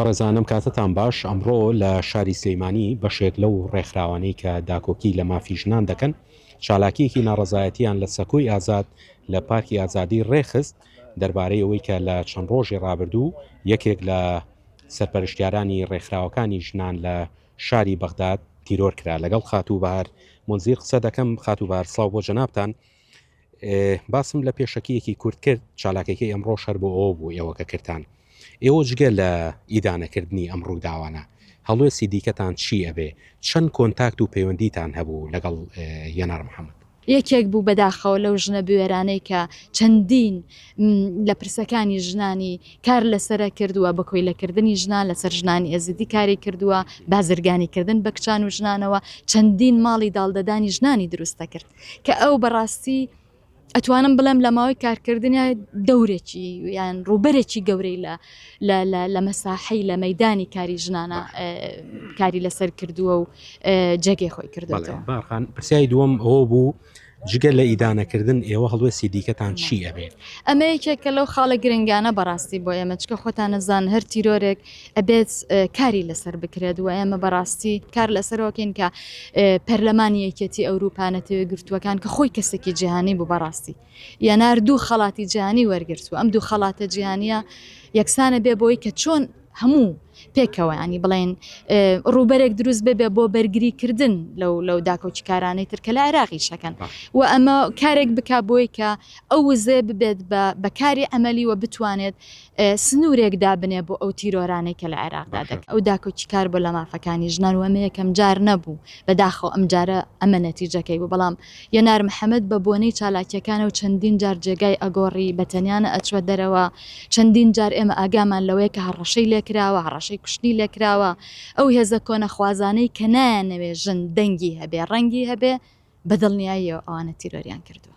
بەڕێزانم کاتتان باش، ئەمڕۆ لە شاری سلیمانی بەشێک لەو ڕێکخراوانەی کە داکۆکی لە مافی ژنان دەکەن چالاکیەکی ناڕەزایەتیان لە سەکۆی ئازاد لە پارکی ئازادی ڕێکخست دەربارەی ئەوەی کە لە چەند ڕۆژی ڕابردوو یەکێک لە سەرپەرشتیارانی ڕێکخراوەکانی ژنان لە شاری بەغداد تیرۆر کرا لەگەڵ خاتوو بەهار مونزیر قسە دەکەم خاتوو بەهار سڵاو بۆ جەنابتان. باسم لە پێشەکییەکی کورت کرد چالاکەکەی ئەمڕۆ شەر بۆ ئەوە بوو ئێوە کە کردان ئێوە جگە لە ئیدانەکردنی ئەم ڕووداوانە هەڵوێسی دیکەتان چی ئەبێ چەند کۆنتاکت و پەیوەندیتان هەبوو لەگەڵ یەنار محەممەد یەکێک بوو بەداخەوە لەو ژنە بوێرانەی کە چەندین لە پرسەکانی ژنانی کار لەسرە کردووە بە کۆیلەکردنی ژنان لەسەر ژنانی ئێزیدی کاری کردووە بازرگانیکردن بە کچان و ژنانەوە چەندین ماڵی داڵدەدانی ژنانی دروستە کرد کە ئەو بەڕاستی ئەتوانم بڵێم لە ماوەی کارکردنیا دەورێکی یان ڕوبەرێکی گەورەی لە لە مەساحی لە مەدانی کاری ژنانە کاری لەسەر کردووە و جێگەی خۆی کردوەوە باخان پرسیای دووەم ئەوە بوو جگە لە ئیدانەکردن ئێوە هەڵوێستی دیکەتان چی ئەبێت ئەمەیەکێکە لەو خاڵە گرنگانە بەڕاستی بۆ ئێمە چکە خۆتانەزان هەر تیرۆرێک ئەبێت کاری لەسەر بکرێت و ئێمە بەڕاستی کار لەسەرۆکەین کە پەرلەمانی یەکێتی ئەوروپا نەتەوە گرتووەکان کە خۆی کەسێکی جیهانی بوو بەڕاستی یەنار دوو خەڵاتی جیهانی وەرگرت و ئەم دوو خەڵاتە جیهانیە یەکسانە بێ بۆی کە چۆن هەموو پێکەوەیانی بڵێن ڕووبەرێک دروست ببێ بۆ بەرگریکردن لەو لەو داکۆکیکارانەی ترکە لە عێراقی شەکەن و ئەمە کارێک بک بۆی کە ئەو وزێ ببێت بە بەکاری ئەمەلی و بتوانێت سنوورێک دابنێ بۆ ئەو تیرۆرانەی کە لە عێراقدا دەکرێت. ئەو داکۆکی کار بۆ لە مافەکانی ژنان و ئەمە یەکەم جار نەبوو، بەداخەوە ئەم جارە ئەمە نەتیجەکەی بوو، بەڵام یەنار محەمەد بە بۆنەی چالاکیەکانەوە چەندین جار جێگای ئەگۆڕی، بە تەنیا نە ئەچوە دەرەوە، چەندین جار ئێمە ئاگامان لەوەیە کە هەڕەشەی لێکراوە، هەڕەشەی کوشتنی لێکراوە، ئەو هێزە کۆنەخوازانەی کە نایانەوێ ژن دەنگی هەبێ، ڕەنگی هەبێ، بە دڵنیاییەوە ئەوانە تیرۆریان کردووە.